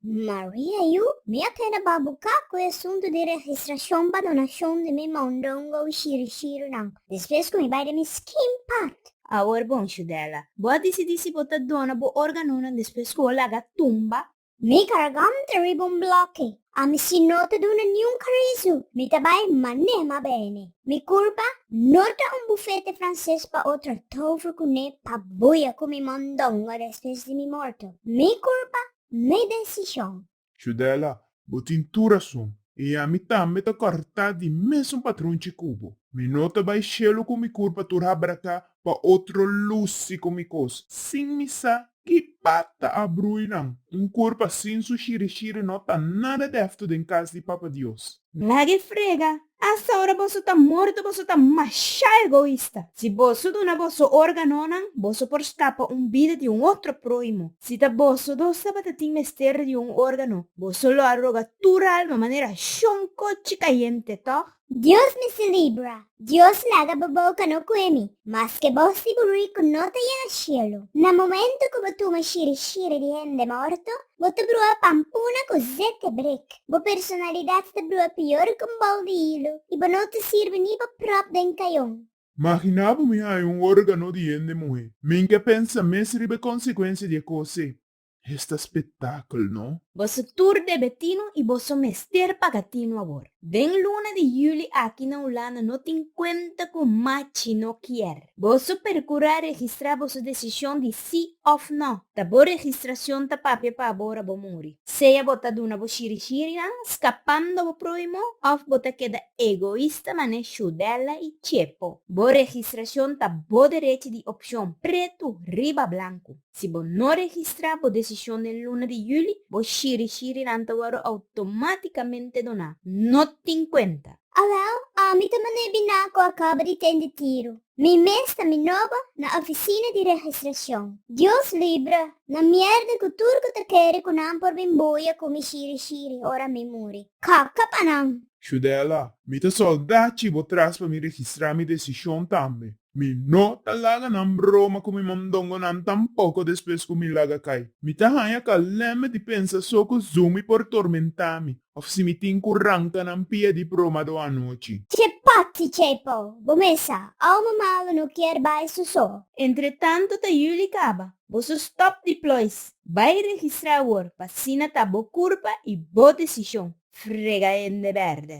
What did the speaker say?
Maria Yu, Mi a keda ba buka ku e asuntu di registrashon pa donashon di mi mondongo i shirishirunan, despues ku mi bai den mi skin part. Awor bon, Shudela, bo a disidi si bo ta dona bo organonan despues ku bo laga tumba? Mi garganta riba un bloke, a misin no ta duna niun karizu, mi ta bai mané ma bene. Mi kurpa no ta un bufete franses pa otro tovru kuné pa buia ku mi mondongo despues di mi morto. Mi kurpa mi desishon. Judela, bo tin tur rason, i ami tambe ta kòrtá di mesun patronchi ku bo. Mi no ta bai shelu ku mi kurpa tur habra ka pa otro lusi ku mi kos, sin mi sa ki pata a brui nan. Un kurpa sin su shirishiri no ta nada dèftu den kas di Papa Dios. Lag'e frega, asaora boso ta morto, boso ta masha egoista. Si boso duna boso organonan, boso por skapa un bida di un otro prohimo. Si ta boso dos tabata tin mester di un organo, boso lo a roga tur alma manera shon cochi cayente, tog? Dios mi celebra Dios laga bo boca no cue mi, maske bo si bo rico no ta yega cielo. Na momento cu bo tuma shiri shiri di hende morto, bo ta brua pampuna cu zete brik. Bo personalidad ta brua pior cu un bol di hilo, y bo no ta sirbi ni bo prop den cayon. Magina bo mi haya un organo di hende muhe. Min ke pensa mes riba e consecuencia di e cos ei. Hesta spetakel no. Boso tur debe tino y boso mester paga tino awor. Den luna di juli aki na Hulanda no tin cuenta cu machi no kier. Boso percura registra boso decision di si of no. Ta bo registracion ta papia pa bo ora bo muri. Sea bo ta duna bo shiri shirinan scapando bo prohimo of bo ta keda egoista mane Shudella y Chepo. Bo registracion ta bo derechi di opcion pretu riba blancu. Si bo no registrá bo desishon den luna di juli, bo shiri-shirinan ta wòrdu outomátikamente doná. No tin kuenta! Alou, ami ta man'é biná ku a kaba di tende tiru. Mi mes ta minoba na ofisina di registrashon. Dios libra, na mièrda ku tur ku ta kere ku nan por bin boya ku mi shiri-shiri ora mi muri. Kaka pa nan! Shudela, Mi ta solda chibo tras pa mi registrá mi desishon tambe. Mi no ta laga nan broma ku mi mondongonan tampoko despues ku mi laga kai. Mi ta haña kalèmbe di pensa so ku Zumi por tormentá mi òf si mi tin ku ranka nan pia di bromado anochi. Che pati Chepo! Bo mesa, alma malu no kier bai su so. Entretanto ta yuli kaba. Boso stòp di plois. Bai registrá awor pa asina ta bo kurpa i bo desishon. Frega hende bèrdè.